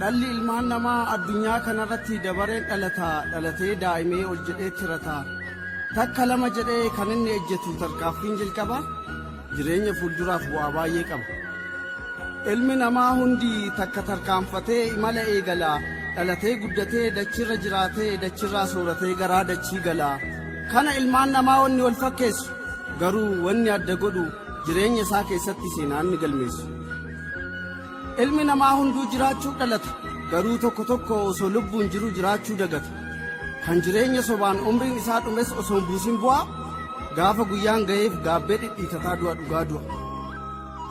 Dhalli ilmaan namaa addunyaa kanarratti dabareen dhalata dhalatee daa'imee ol jedhee tirata takka lama jedhee kan inni ejjetu tarkaanfiin jalqaba jireenya fuulduraaf bu'aa baay'ee qaba. Ilmi namaa hundi takka tarkaanfatee imala eegala dhalatee guddatee dachirra jiraatee dachirraa sooratee garaa dachii gala. Kana ilmaan namaa wanni wal fakkeessu garuu wanni adda godhu Jireenya isaa keessatti seenaa inni galmeessu. Ilmi namaa hunduu jiraachuu dhalata, garuu tokko tokko osoo lubbuun jiru jiraachuu dagata. Kan jireenya sobaan umriin isaa dhumes osoo hin buusin bu'aa, gaafa guyyaan ga'eef gaabbee dhidhiitataa du'a dhugaa du'a.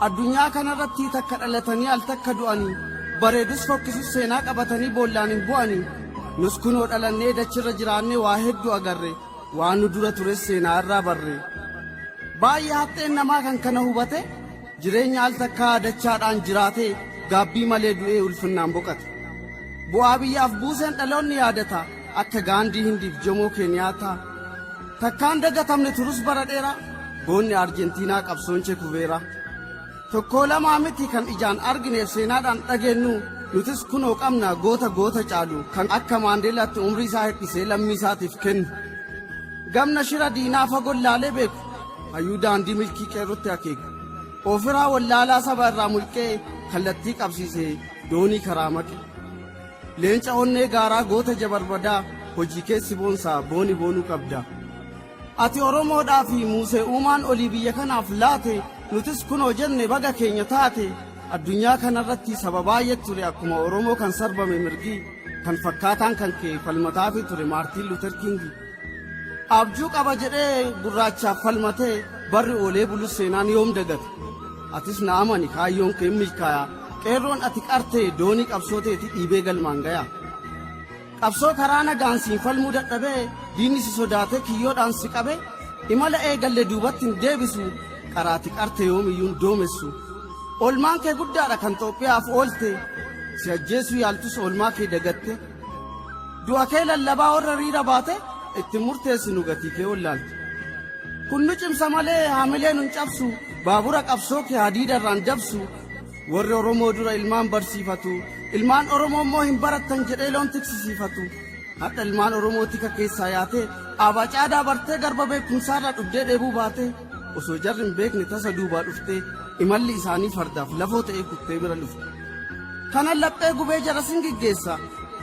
Addunyaa kanarratti takka dhalatanii al takka du'anii, bareedus fokkisus seenaa qabatanii boollaan hin bu'anii. Nus kunoo dhalannee dachirra jiraannee waa hedduu agarre. Waan nu dura tures seenaa irraa barre. Baay'ee haxxeen namaa kan kana hubate jireenya al takkaa dachaadhaan jiraatee gaabbii malee du'ee ulfinnaan boqate. Bu'aa biyyaaf buuseen dhaloonni yaadata akka Gaandii Hindiif Jomoo Keeniyaataa. Takkaan dagatamne turus bara dheeraa goonni Arjentiinaa qabsoon Chekuveeraa. Tokkoo lamaa miti kan ijaan argineef seenaadhaan dhageennu, nutis kunoo qabna goota goota caalu kan akka Maandeelaatti umrii isaa hir'isee lammii isaatiif kennu. Gamna shira diinaa fagoon laalee beeku, hayyuu daandii milkii qeerrootti akeeku, ofiraa wallaalaa saba irraa mulqee kallattii qabsiisee doonii karaa maqe. Leenca onnee gaaraa goota jabarbadaa hojii keessi boonsaa booni boonuu qabda. Ati Oromoodhaa fi Muusee Uumaan olii biyya kanaaf laate, nutis kunoo jenne baga keenya taate. Addunyaa kanarratti saba baay'eet ture akkuma Oromoo kan sarbame mirgi, kan fakkaataan kan kee falmataafii ture Maartiin Luuter Kingi. Abjuu qaba jedhee gurraachaaf falmatee barri oolee bulus seenaan yoom dagata. Atis na amani kaayyoon kee hin milkaaya. Qeerroon ati qarte doonii qabsoo teeti dhiibee galmaan gaya. Qabsoo karaa nagaan siin falmuu dadhabee diinni si sodaatee kiyyoodhaan si qabe imala eegalle duubatti hin deebisu qaraati qarte yoomiyyuu hin doomessu olmaan kee guddaadha kan Xoophiyaaf oolte si ajjeesuu yaaltus olmaa kee dagatte du'a kee lallabaa warra riira baate itti murteessinu gatii kee ollaalte kun nu cimsa malee haamilee nun cabsu baabura qabsoo kee hadiida irraan dabsu Warri Oromoo dura ilmaan barsiifatu, ilmaan Oromoo immoo hin barattan jedhee loon tiksisiifatu. Hadha ilmaan Oromoo tika keessaa yaatee, aabaa caadaa bartee garba beekumsaarraa dhugdee dheebuu baatee, osoo jarri hin beekne tasa duubaa dhuftee, imalli isaanii fardaaf lafoo ta'ee kuttee bira lufte. Kanan laphee gubee jarasin giggeessa,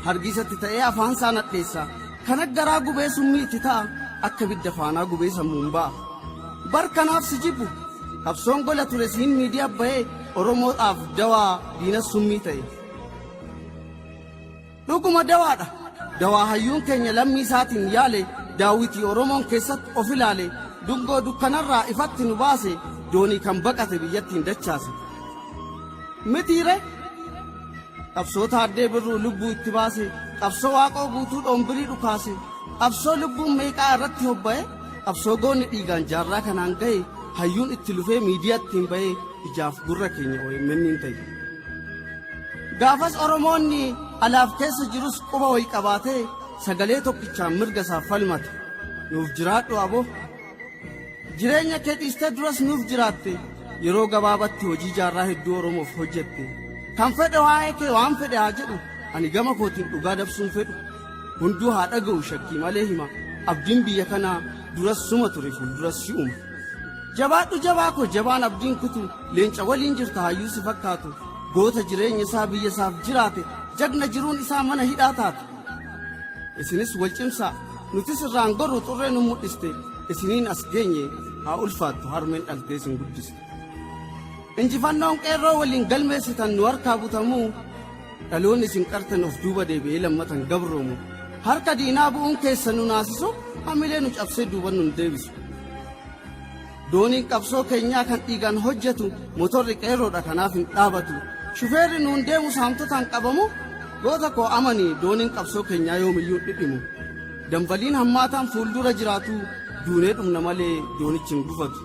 hargiisatti ta'ee afaan isaa nadheessa. Kan akka garaa gubee summii itti ta'a, akka ibidda faanaa gubee sammuun ba'a. Bar kanaaf si jibbu, qabsoon gola ture siin miidiyaa ba'ee Oromoodhaaf dawaa diinas summii ta'e. Dhuguma dawaadha. Dawaa hayyuun keenya lammii isaatiin yaale daawwitii Oromoon keessatti of ilaale dungoo dukkanarraa ifatti nu baase doonii kan baqate biyyattiin dachaase. Mitiire Qabsoo Taaddee Birruu lubbuu itti baase, qabsoo Waaqoo Guutuu Dhoombirii dhukaase, qabsoo lubbuun meeqaa irratti hobba'e, qabsoo goonni dhiigaan jaarraa kanaan gahe, hayyuun itti lufee miidiyaa ittiin bahe ijaaf gurra keenya OMN'n ta'e. Gaafas Oromoonni alaaf keessa jirus quba wayi qabaatee sagalee tokkichaan mirga isaaf falmate. Nuuf jiraadhu abo! Jireenya kee dhiistee duras nuuf jiraatte yeroo gabaabatti hojii jaarraa hedduu Oromoof hojjette. Kan fedhe waa'ee kee waan fedhe haa jedhu ani gama kootiin dhugaa dabsuun fedhu. Hunduu haa dhaga'u shakkii malee hima abdiin biyya kanaa duras suma ture fuulduras si'uma. Jabaadhu jabaa koo jabaan abdiin kutu leenca waliin jirta hayyuu si fakkaatu goota jireenya isaa biyya isaaf jiraate jagna jiruun isaa mana hidhaa taate. isinis wal cimsaa nutis irraan gorru xurree nu mul'iste isiniin as geenye haa ulfaattu harmeen dhaltee isin guddise injifannoon qeerroo waliin galmeessitan nu harkaa butamuu dhaloonni isin qartan of duuba deebi'ee lammatan gabroomu harka diinaa bu'uun keessa nu naasisu hamilee nu cabsee duuban nun deebisu Dooniin qabsoo keenyaa kan dhiigaan hojjetu motorri qeerroodha kanaaf hin dhaabatu. Shufeerri nuun deemu saamtotaan qabamu goota koo amani dooniin qabsoo keenyaa yoomiyyuu dhidhimu. Dambaliin hammaataan fuuldura jiraatu duunee dhumna malee doonichi hin gufatu.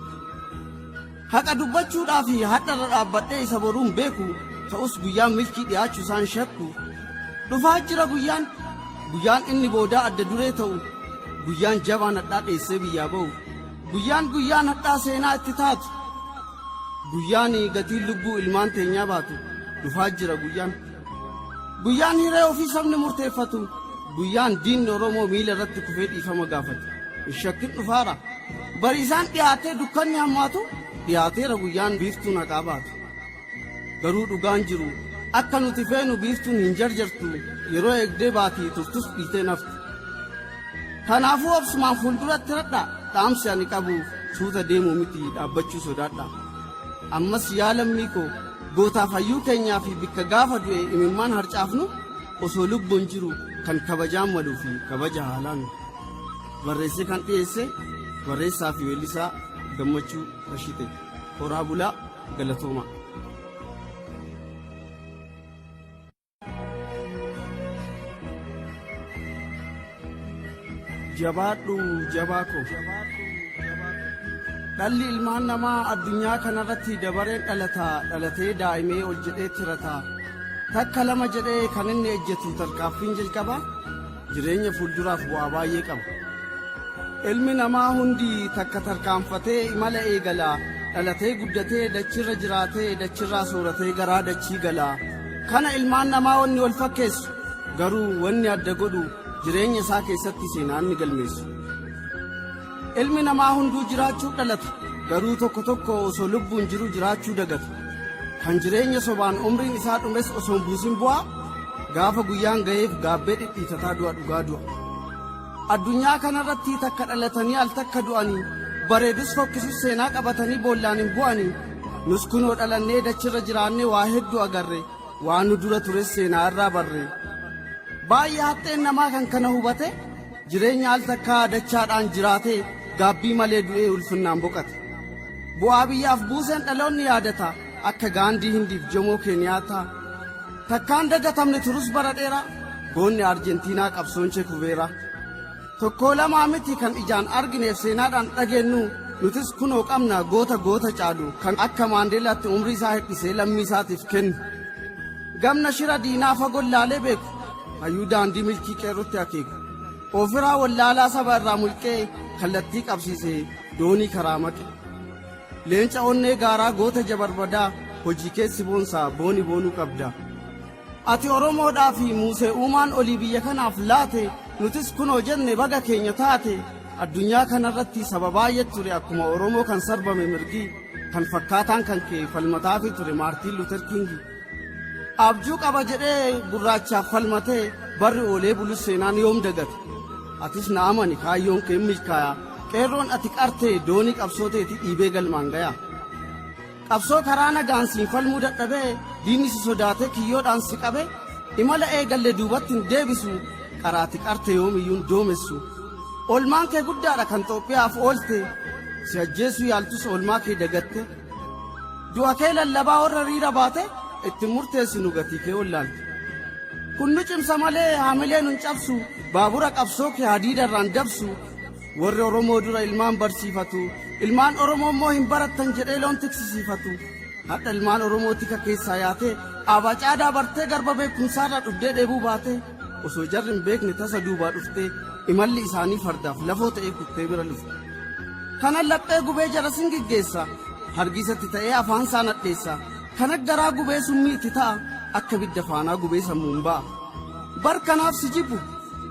Haqa dubbachuudhaaf hadharra dhaabbadhee isa boruun beeku ta'us guyyaan milkii dhiyaachu isaan shakku. Dhufaa jira guyyaan guyyaan inni boodaa adda duree ta'u guyyaan jabaan hadhaa dheessee biyyaa ba'u. Guyyaan guyyaan hadhaa seenaa itti taatu guyyaan gatiin lubbuu ilmaan teenyaa baatu dhufaa jira guyyaan guyyaan hiree ofii sabni murteeffatu guyyaan diinni oromoo miila irratti kufee dhiifama gaafatu hin shakkin dhufaara bariisaan dhiyaatee dukkanni hammaatu dhiyaateera guyyaan biiftuun haqaa baatu garuu dhugaan jiru akka nuti feenu biiftuun hin jarjartu yeroo eegdee baati turtus dhiitee naftu Kanaafuu obsumaan fuulduratti radhaa dhaamsi ani qabu suuta deemuu miti dhaabbachuu sodaadhaa. Ammas yaa lammii koo gootaaf hayyuu keenyaa fi bikka gaafa du'e imimmaan harcaafnu osoo lubbuun jiru kan kabajaan maluu fi kabaja haalaan barreessee kan dhiyeesse barreessaa fi weellisaa gammachuu Rashite horaa bulaa galatoomaa. jabaadhu jabaa koo dhalli ilmaan namaa addunyaa kanarratti dabareen dhalata dhalatee daa'imee ol jedhee tirata takka lama jedhee kan inni ejjetu tarkaaffiin jalqabaa Jireenya fuulduraaf bu'aa baay'ee qaba. Ilmi namaa hundi takka tarkaanfatee imala eegala. Dhalatee guddatee dachirra jiraatee dachirraa sooratee garaa dachii gala. Kana ilmaan namaa wanni wal fakkeessu garuu wanni adda godhu jireenya isaa keessatti seenaa inni galmeessu. Ilmi namaa hunduu jiraachuu dhalatu, garuu tokko tokko osoo lubbuun jiru jiraachuu dagatu. Kan jireenya sobaan umriin isaa dhumes osoo hin buusin bu'aa, gaafa guyyaan ga'eef gaabbee dhidhiitataa du'a dhugaa du'a. Addunyaa kanarratti takka dhalatanii al takka du'anii, bareedus fokkisus seenaa qabatanii boollaan hin bu'anii. Nus kunoo dhalannee dachirra jiraannee waa hedduu agarre, waan nu dura tures seenaa irraa barre. Baay'ee haxxeen namaa kan kana hubate, Jireenya al takkaa dachaadhaan jiraatee gaabbii malee du'ee ulfinnaan boqate. Bu'aa biyyaaf buuseen dhaloonni yaadata akka Gaandii Hindiif Jomoo Keeniyaataa. Takkaan dagatamne turus bara dheeraa goonni Arjentiinaa qabsoon Chekuveeraa. Tokkoo lamaa miti kan ijaan argineef seenaadhaan dhageennu nutis kunoo qabna goota goota caalu kan akka Maandeelaatti umrii isaa hir'isee lammii isaatiif kennu. Gamna shira diinaa fagoon laalee beeku Hayyuu daandii milkii qeerrootti akeeka. Ofiraa wallaalaa saba irraa mulqee kallattii qabsiise doonii karaa maqe. Leenca onnee gaaraa goota jabarbadaa hojii keessi boonsaa booni boonuu qabda. Ati Oromoodhaa fi Muusee uumaan olii biyya kanaaf laate nutis kunoo jenne baga keenya taate addunyaa kanarratti saba baay'ee ture akkuma Oromoo kan sarbame mirgi kan fakkaataan kan kee falmataafi ture Maartiin Luuter Kiingi. Abjuu qaba jedhee gurraachaaf falmatee barri oolee bulus seenaan yoom dagate. Atis na amani kaayyoon kee hin milkaaya. Qeerroon ati qartee doonii qabsoo teeti dhiibee galmaan gaya. Qabsoo karaa nagaan siin falmuu dadhabee diinni si sodaatee kiyyoodhaan si qabe imala eegalle duubatti hin deebisu qaraati qarte yoomiyyuu hin doomessu. Olmaan kee guddaadha kan Xoophiyaaf oolte si ajjeesuu yaaltus olmaa kee dagatte. Du'a kee lallabaa warra riira baate itti murteessinu gatii kee wallaalte. Kun nu cimsa malee haamilee nun cabsu baabura qabsoo kee hadiida irraan dabsu warri Oromoo dura ilmaan barsiifatu ilmaan Oromoo immoo hin barattan jedhee loon tiksisiifatu. Hadha ilmaan Oromoo tika keessaa yaatee aabaa caadaa bartee garba beekumsaarraa dhugdee dheebuu baatee. Osoo jarri hin beekne tasa duubaa dhuftee imalli isaanii fardaaf lafoo ta'ee kuttee bira lufte. Kana laphee gubee jara sin geggeessa. Hargiisatti ta'ee afaan isaa nadheessa. Kana garaa gubee summii itti ta'a. Akka bidda faanaa gubee sammuun ba'a. Bar kanaaf si jibbu.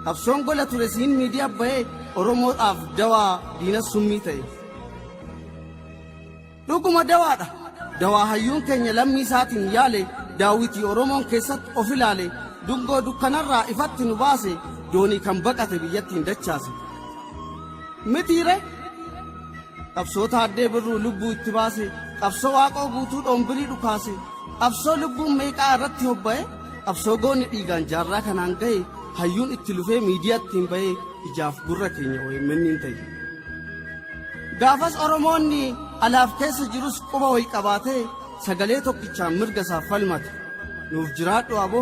Qabsoon gola ture siin miidiyaa ba'ee Oromoodhaaf dawaa diinas summii ta'e. Dhuguma dawaadha. Dawaa hayyuun keenya lammii isaatiin yaale daawwitii Oromoon keessatti of ilaale dungoo dukkanarraa ifatti nu baase doonii kan baqate biyyattiin dachaase. Mitiire qabsoo taaddee birruu lubbuu itti baase qabsoo waaqoo guutuu dhoombirii dhukaase qabsoo lubbuun meeqaa irratti hobba'e qabsoo goonni dhiigaan jaarraa kanaan ga'e hayyuun itti lufee miidiyaatti hin ba'e ijaaf gurra keenya OMN hin ta'e. Gaafas Oromoonni alaaf keessa jirus quba wal qabaatee sagalee tokkichaan mirga isaaf falmate. Nuuf jiraadhu abo.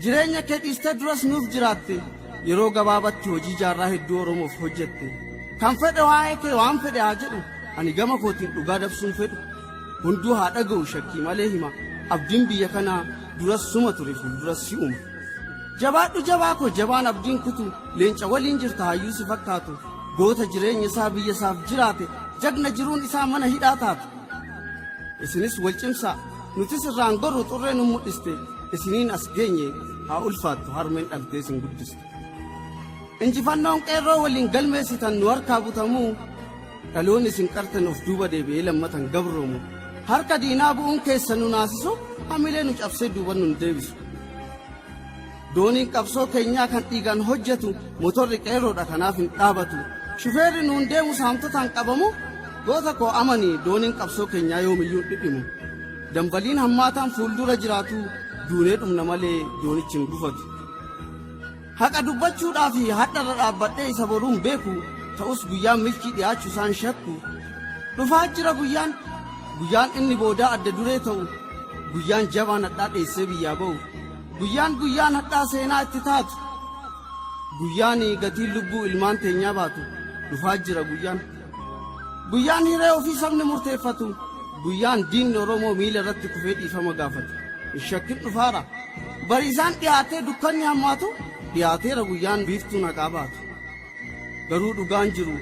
Jireenya kee dhiistee duras nuuf jiraatte. Yeroo gabaabatti hojii jaarraa hedduu Oromoof hojjette. Kan fedhe waa'ee kee waan fedhe haa jedhu. Ani gama kootiin dhugaa dabsuun fedhu. Hunduu haa dhaga'u shakkii malee hima. Abdiin biyya kanaa duras suma ture fuulduras si'uma. Jabaadhu jabaa koo jabaan abdiin kutu leenca waliin jirta hayyuu si fakkaatu. Goota jireenya isaa biyya isaaf jiraate, jagna jiruun isaa mana hidhaa taate. Isinis wal cimsaa, nutis irraan gorru xurree nu mul'iste, isiniin as geenye haa ulfaattu harmeen dhaltee isin guddiste. Injifannoon qeerroo waliin galmeessitan nu harkaa butamuu, dhaloon isin qartan of duuba deebi'ee lammatan gabroomu. Harka diinaa bu'uun keessa nu naasisu, hamilee nu cabsee duuban nun deebisu. Dooniin qabsoo keenyaa kan dhiigaan hojjetu motorri qeerroodha kanaaf hin dhaabatu. Shufeerri nuun deemu saamtotaan qabamu goota koo amani dooniin qabsoo keenyaa yoomiyyuu dhidhimu. Dambaliin hammaataan fuuldura jiraatu duunee dhumna malee doonichi hin gufatu. Haqa dubbachuudhaa fi hadharra dhaabbadhee isa boruun beeku ta'us guyyaan milkii dhiyaachu isaan shakku. Dhufaa jira guyyaan guyyaan inni boodaa adda duree ta'u guyyaan jabaan hadhaa dheessee biyyaa ba'u. Guyyaan guyyaan hadhaa seenaa itti taatu guyyaan gatiin lubbuu ilmaan teenyaa baatu dhufaa jira guyyaan guyyaan hiree ofii sabni murteeffatu guyyaan diinni oromoo miila irratti kufee dhiifama gaafatu hin shakkin dhufaara bariisaan dhiyaatee dukkanni hammaatu dhiyaateera guyyaan biiftuun haqaa baatu. Garuu dhugaan jiru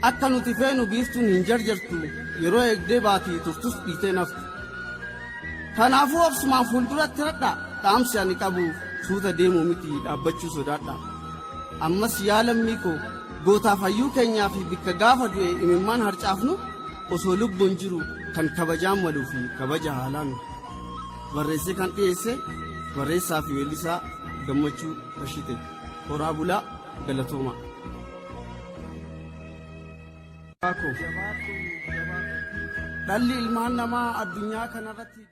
akka nuti feenu biiftuun hin jarjartu yeroo eegdee baatii turtus dhiitee naftu. Kanaafuu obsumaan fuulduratti radha dhaamsi ani qabu suuta deemuu miti dhaabbachuu sodaadha. Ammas yaa lammii koo gootaaf hayyuu keenyaa fi bikka gaafa du'e imimmaan harcaafnu osoo lubbuun jiru kan kabajaan maluu fi kabaja haalaan barreessee kan dhiyeesse barreessaa fi weellisaa gammachuu Rashite horaa bulaa. Galatooma. Dhalli ilmaan namaa addunyaa kanarratti.